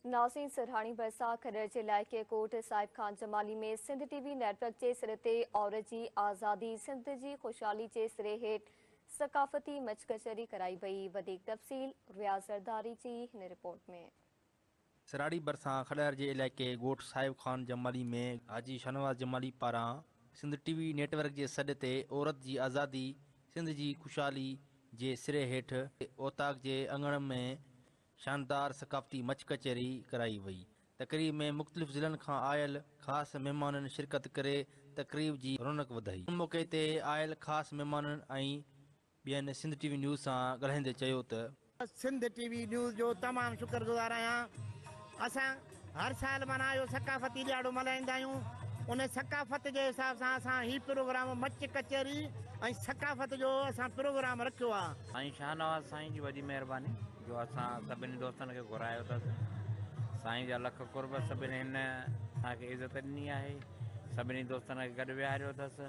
نازين سرهاڻي ويساهه کڏڙ جي علائقي Kot Sahib Khan Jamali ۾ Sindh T V network جي سر تي عورت جي آزادي سنڌ جي خوشحالي جي سري هيٺ ثقافتي مچ ڪچهري ڪرائي وئي وڌيڪ تفصيل رياض زرداري جي هن رپورٽ ۾ سرهاڻي ڀرسان کڏهر جي علائقي ڳوٺ صاحب خان جمالي ۾ حاجي شاهنواز جمالي پاران Sindh T V network جي سڏ تي عورت جي آزادي سنڌ جي خوشحالي جي سري هيٺ اوطاق جي اڱڻ ۾ شاندار ثقافتي مچ ڪچهري ڪرائي وئي. تقريب ۾ مختلف ضلعن کان آيل خاص مهمانن شرڪت ڪري تقريب جي رونق وڌائي. ان موقعي تي آيل خاص مهمانن ۽ ٻين سنڌ ٽي وي نيوز سان ڳالهائيندي چيو ته. سنڌ ٽي وي نيوز جو تمام شڪر گذار آهيان اسان هر سال معنيٰ اهو ثقافتي ڏياڙو ملهائيندا آهيون ان ثقافت جي حساب سان اسان هي پروگرام مچ ڪچهري ۽ ثقافت جو اسان پروگرام رکيو آهي. سائين شاهنواز سائين جي وڏي مهرباني جو اسان سڀني دوستن کي گهرايو اٿس سائين جا لک قرب سڀني هن اسان کي عزت ڏني آهي سڀني دوستن کي گڏ ويهاريو اٿس.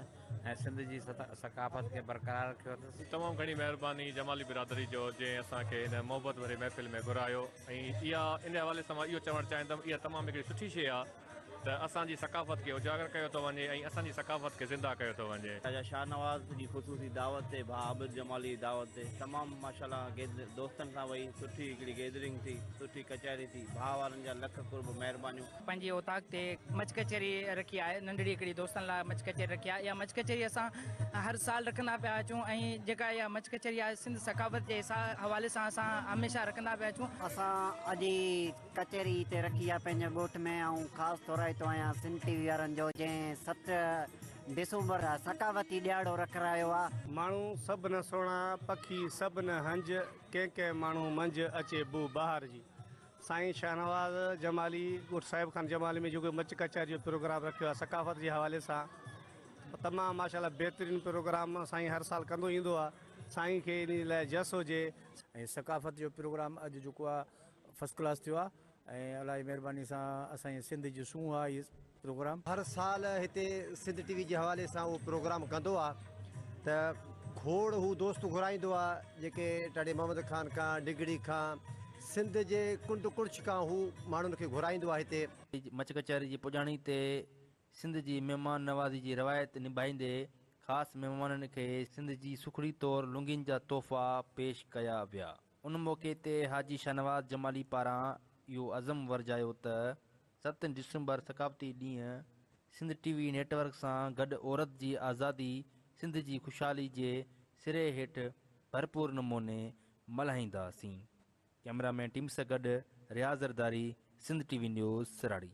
۽ سنڌ جي ثقافت کي برقرار رکيو اٿس. تمام گهڻي مهرباني جمالي برادري جو جنهن اسان کي هن محبت ڀري محفل ۾ گهرايو ۽ اها ان حوالي سان مان اهو چوڻ چاهيندم اها تمام هڪڙي سٺي شيء آ ته اسان جي ثقافت کي اجاگر ڪيو ٿو وڃي ۽ اسان جي ثقافت کي زنده ڪيو ٿو وڃي. خواجه شاهنواز جي خصوصي دعوت تي ڀاء عابد جمالي جي دعوت تي تمام ماشاءالله گيد دوستن سان وئي سٺي هڪڙي گيدرنگ ٿي سٺي ڪچهري ٿي ڀاء وارن جا لک قرب مهربانيون. پنهنجي اوطاق تي مچ ڪچهري رکي آهي ننڍڙي هڪڙي دوستن لاء مچ ڪچهري رکي آهي اها مچ ڪچهري اسان هر سال رکندا پيا اچون ۽ جيڪا اها مچ ڪچهري آهي سنڌ ثقافت جي حوالي سان اسان هميشه رکندا پيا اچون اسان اڄ هي ڪچهري هتي رکي آهي پنهنجي ڳوٺ ۾ آئون خاص ٿورائتو آهيان سنڌ ٽي وي وارن جو جنهن ست ڊسومبر ثقافتي ڏيهاڙو رکرايو آهي. ماڻهو سڀ نه سهڻا پکي سڀ نه هنج ڪنهن ڪنهن ماڻهو منجهه اچي بوء بهار جي سائين شاهنواز جمالي ڳوٺ صاحب خان جمالي ۾ جيڪو مچ ڪچهري جو پروگرام رکيو آهي ثقافت جي حوالي سان تمام ماشاءالله بهترين پروگرام سائين هر سال ڪندو ايندو آهي سائين کي انهي لاء جس هجي. ۽ ثقافت جو پروگرام اڄ جيڪو آ فسٽ ڪلاس ٿيو آ ۽ الله جي مهرباني سان اسان جي سنڌ جي سونهن آ هي. پروگرام. هر سال هتي سنڌ ٽي وي جي حوالي سان اهو پروگرام ڪندو آ ته کوڙ هو دوست گهرائيندو آ جيڪي ٽاڙي محمد خان کان ڊگهڙي کان سنڌ جي ڪنڊ ڪڙڇ کان هو ماڻهن کي گهرائيندو آ هتي. مچ ڪچهري جي پڄاڻي تي سنڌ جي مهمان نوازي جي روايت نڀائيندي خاص مهمانن کي سنڌ جي سکڙي طور لونگين جا تحفا پيش ڪيا ويا ان موقعي تي حاجي شاهنواز جمالي پاران اهو عزم ورجايو ته ست ڊسمبر ثقافتي ڏينهن Sindh T V network سان گڏ عورت جي آزادي سنڌ جي خوشحالي جي سري هيٺ ڀرپور نموني ملهائينداسين ڪئميرا مين ٽيم سان گڏ Riaz Zardari Sindh T V news سراڙي.